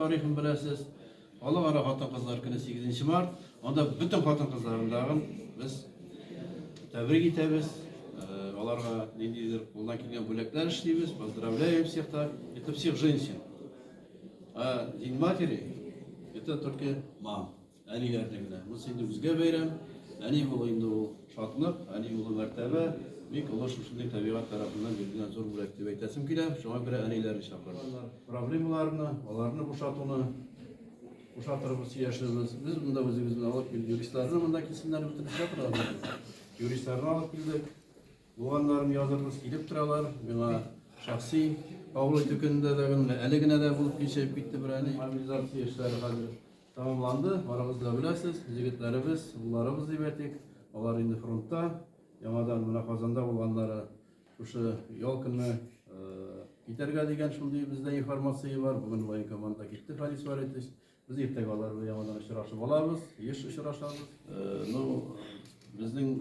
Тарихын беләсез. Халыкара хатын-кызлар көне сигезенче март. Анда бөтен хатын-кызларны тагын без тәбрик итәбез. Аларга ниндидер кулдан килгән бүләкләр эшлибез. Поздравляем всех так. Это всех женщин. А День матери это только мам. Әниләрдә генә. Монысы инде үзгә бәйрәм. Әни булу инде ул шатлык, әни булу мәртәбә. Бик олы шушындый табигать тарафыннан бирелгән зур бүләк дип әйтәсем килә. Шуңа күрә әниләрне чакырдым. Проблемаларны, аларны бушатуны бушатырбыз, яшербез. Без монда үзебезне алып килдек. Юристларны монда килсеннәр, без эшкә торабыз. Юристларны алып килдек. Булганнарын язырбыз, килеп торалар. Миңа шәхси кабул итү көнендә дә, әле генә дә булып кичеп китте бер әни. Мобилизация эшләре хәзер Тәмамланды, барыгыз да беләсез, җегетләребез, улларыбыз дип әйтик, алар инде фронтта, яңадан менә Казанда булганнары шушы ял көнне китәргә дигән шундый бездә информация бар. Бүген военкоманда китте Фарис Валитович. Без иртәгә алар белән яңадан очрашып алабыз, еш очрашабыз. Ну, безнең